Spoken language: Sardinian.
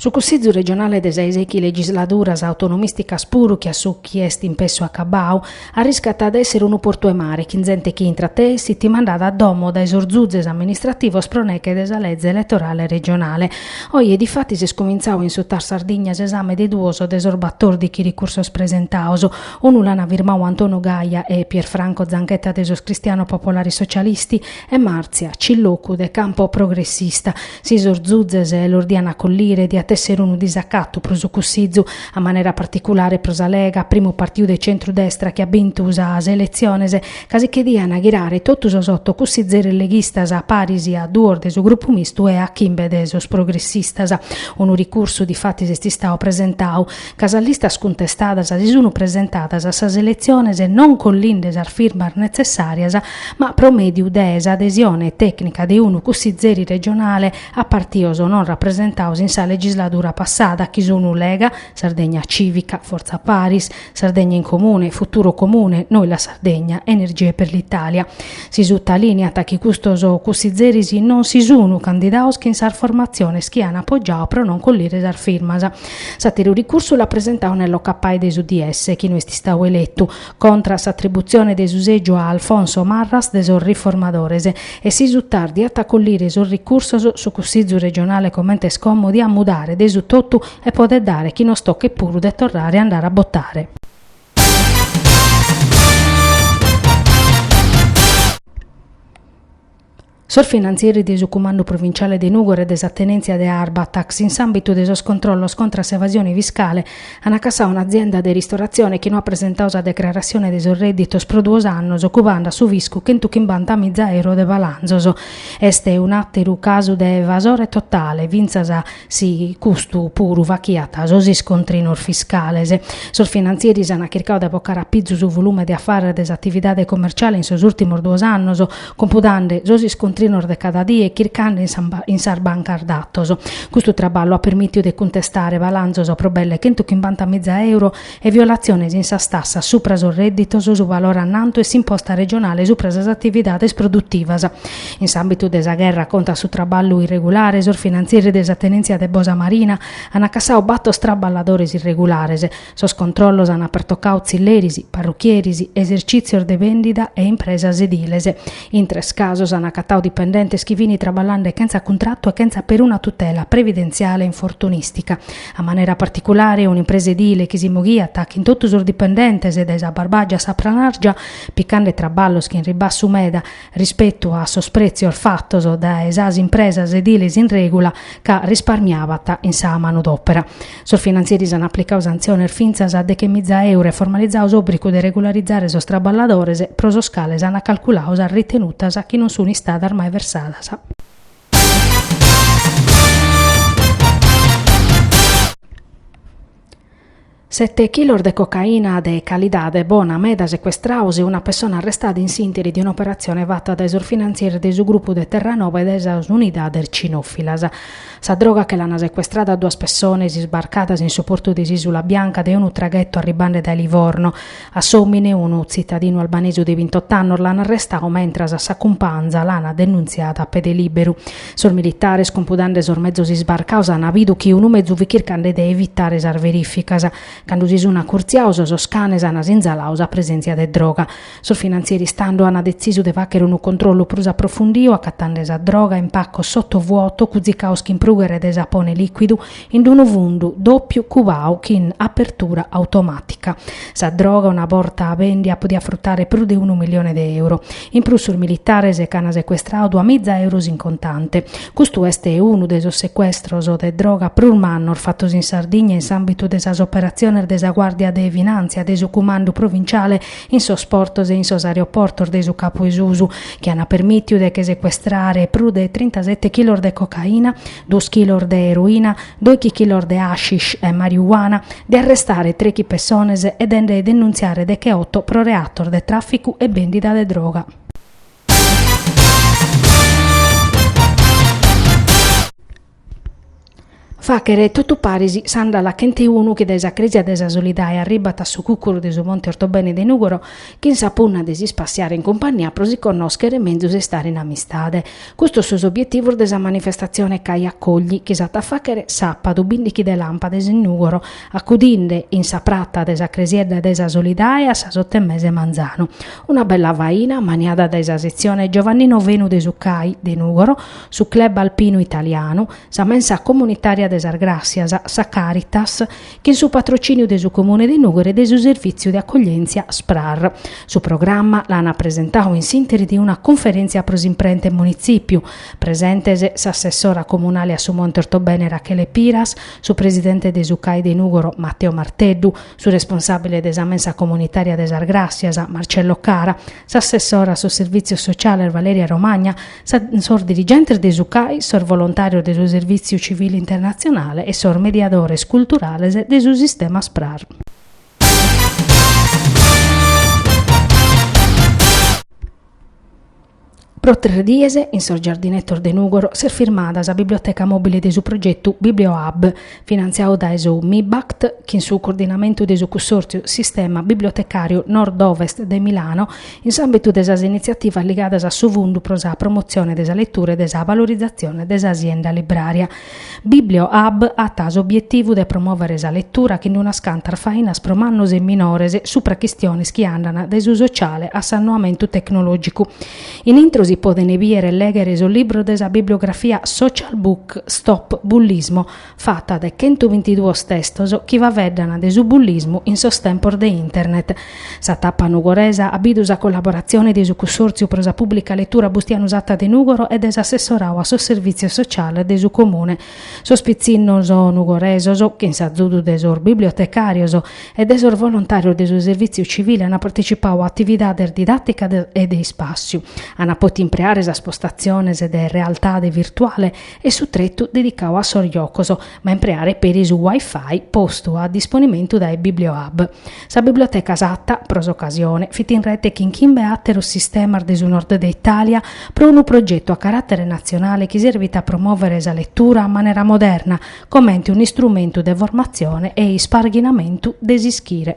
Su Cussizu regionale de sa 'e sèichi legisladuras autonomìsticas puru che a su chi est in pessu acabau, arriscat a èssere unu portu 'e mare chin zente chi intrat e essit mandada a domo dae sos zutzes amministrativos pro neche de sa leze eletorale regionale. Oje difatis est cumintzau in su Tar Sardigna s'esame de duos de sos batòrdichi ricursos presentaos, unu l'an firmau Antonio Gaia e Pierfranco Zanchetta de sos Cristiano Popolari Socialisti, e Marzia Cilloccu de Campo Progressista, si sos zuzes los dian acollire diat èssere unu disacatu pro su Cussizu, a manera particulare pro sa Lega, primu partiu de centru-destra chi at bintu sas eletziones, ca si che dian ghirare totu sos oto cussizeres leghistas a paris a duos de su Grupu Mistu e a chimbe de sos progressistas. Unu ricursu difatis est istau presentau. ca sas listas cuntestadas si sun presentadas a sas eletziones non collinde sas firmas netzessàrias, ma pro mèdiu de s'adesione tècnica de unu cussizeri regionale a partios non rapresentaos in sa legisladura passada, chi sun Lega, Sardegna Cìvica, Fortza Paris, Sardegna in Comune, Futuro Comune, Noi la Sardegna, Energie per l'Italia. Si sutalìniat chi custos cussizeris non si sun candidaos chin sas formatziones chi an apogiau pro non collire sas firmas. S'àteru ricursu l'at presentau Nello Cappai de s'UDS, chi no est istau eletu, contra a s'atributzione de su sègiu a Alfonso Marras de sos Riformadores, e si su Tar diat acollire sos ricursos su Cussizu regionale comente est como diat mudare de su totu e podet dare chi nos tochet puru de torrare a andare a botare. Sos finantzieris de su Cumandu Provinciale de Nùgoro e de sa tenèntzia de Arbatax, in s'àmbitu de sos controllos contra s'evasione fiscale, an cassau un'azienda de ristoratzione chi no at presentau sa declaratzione de sos rèdditos pro duos annos, cuband' a su fiscu chentu chimbanta miza euro de balanzos. Est un'àteru casu de evasore totale, fintzas si custu puru fachiat sos iscontrinos fiscales. Sos finantzieris ant chircau de bocare a pizu su volume de afares de s'atividade comerciale in sos ùrtimos duos annos, cumpudande sos iscontrinos de cada die e chircande in sas bancas datos. Custu traballu at permìtiu de cuntestare balanzos pro belle chentu chimbanta miza euro e violatziones in sas tassas supra sos rèdditos, su valore annantu e s'imposta regionale supra sas atividades produtivas. In s'àmbitu de sa gherra contra su traballu irregulare, sos finantzieris de sa tenèntzia de Bosa Marina ant cassau bator traballadores irregulares. Sos controllos ant pertocau tzilleris, parruchieris, esercìtzios de bèndida e impresas ediles. In tres casos ant acatau dipendentes chi fint traballande chentza cuntratu e chentza peruna tutela previdentziale e infortunìstica. A manera particulare, un'impresa edile chi si moghiat chin totu sos dipendentes dae sa Barbàgia a sa Pranàrgia, picande traballos chin ribassu meda rispetu a sos prètzios fatos dae sas impresas ediles in règula ca risparmiabant in sa manodòpera. Sos finantzieris ant aplicadu santziones fintzas deche miza euro e formalizadu s'òbrigu de regularizare sos traballadores, pro sos cales ant calculadu sas ritenutas chi non sunt istadas mai versadas. Sete chilos de cocaina de calidade bona meda secuestrados e una pessona arrestada in s'interi de un'operatzione fata dae sos finantzieris de su grupu de Terranova e dae sas unidades cinòfilas. Sa droga che l'ant secuestrada a duas pessones isbarcadas in su portu de s'Isula Bianca de unu traghettu arribande dae Livorno, A s'òmine, unu tzitadinu albanesu de bintot'annos l'an arrestadu mentras a sa cumpanza l'an denuntziada a pede lìberu. Sos militares, cumpudande sos mezos isbarcados, an bidu chi unu mezu fit chircande de evitare sas verìficas. Cando si sun acurtziados, sos canes an sinzaladu sa presèntzia de droga. Sos finantzieris tando an detzisu de fàghere unu controllu prus aprofundiu, acatende sa droga in pacos sottovuoto, cuzicados chin prùghere de sapone lìcuidu, in d'unu fundu dòpiu cubau chin apertura automàtica. Sa droga, una borta bèndia, podiat frutare prus de unu milione de euro. In prus sos militares ch'ant secuestradu duamiza euros in contante. Custu est unu de sos secuestros de droga prus mannos fatos in Sardigna in s'àmbitu de sas operatziones de sa Guàrdia de Finàntzia de su Cumandu Provinciale in sos portos e in sos aeroportos de su Capu 'e Susu, chi ant permìtiu de che secuestrare prus de trintasete chilos de cocaina. duos chilos de eroina, dòichi chilos de hashish e mariuana, de arrestare trechi pessones e de nde denuntziare decheoto pro reatos de tràficu e bèndida de droga. Fàghere totu paris s'andala chent'e unu chi dae sa crèsia de sa Solidae arribat a su cùcuru de su Monte Ortobene de Nùgoro chin sa punna de ispassiare in cumpagnia pro si connòschere menzus e istare in amistade. Custos sos obietivos de sa manifestatzione Cai Accogli chi s'at a fàghere sàpadu bìndighi de làmpades in Nùgoro, acudinde in sa pratza de sa Cresiedda de sa Solidae a sas oto e mesu 'e manzanu. Una bella faina maniada dae sa setzione Giovannino Fenu de su Cai de Nùgoro, su Club Alpinu Italianu, sa mensa comunitària de sas Gràssias, sa Caritas chin su patrocìniu de su Comune de Nùgoro e de su Servìtziu de Acoglièntzia Sprar. Su programma l'ana presentau in s'interi de una cunferèntzia pro s'imprenta in Munitzìpiu, presentes s'assessora comunale a su Monte Ortobene Rachele Piras, su presidente de su CAI de Nùgoro Matteo Marteddu, su responsàbile de sa mensa comunitària de sas Gràssias Marcello Cara, s'assessora a sos Servìtzios Sociales Valeria Romagna, sos dirigentes de su CAI, sos volontàrios de su Servìtziu Civile Internatzionale e sos mediadores culturales de su sistema SPRAR. Pro tres dies, in sos giardinetos de Nùgoro, s'est firmada sa biblioteca mòbile de su progetu Bibliohub, finantziadu dae su MIBACT chin su coordinamentu de su Cussòrtziu Sistema Bibliotecàriu Nord-Ovest de Milano in s'àmbitu de sas initziativas ligadas a su Fundu pro sa promotzione de sa letura e de sa valorizatzione de sa sienda librària. Bibliohub at s'obietivu de promòvere sa letura chin unas cantas fainas pro mannos e minores, supra chistiones chi andant dae su sociale a s'annoamentu tecnològicu, In intro si podent bìdere e lèghere sos libros de sa bibliografia Social Book, Stop Bullismo, fata de chentubintiduos testos chi faeddant de su bullismu in sos tempos de Internet. Sa tapa nugoresa at bidu sa collaboratzione de su Cussòrtziu pro sa Pùblica Letura Bustianu Satta de Nùgoro e de s'assessoradu a sos Servìtzios Sociales de su Comune, Sos pitzinnos nugoresos, chin s'azudu de sos bibliotecàrios e de sos volontàrios de su servìtziu civile ant partecipadu a atividades didàticas e de ispàssiu, ant pòtidu impreare sas postatziones de realtade virtuale e su tretu dedicadu a sos giocos, ma impreare peri su Wi-Fi postu a disponimentu dae Bibliohub. Sa biblioteca Satta, pro s'ocasione, fit in rete chin chimbe àteros sistemas de su Nord de Itàlia pro unu progetu a caràtere natzionale chi serbit a promòvere sa letura a manera moderna, comente un'istrumentu de formatzione e isparghinamentu de s'ischire.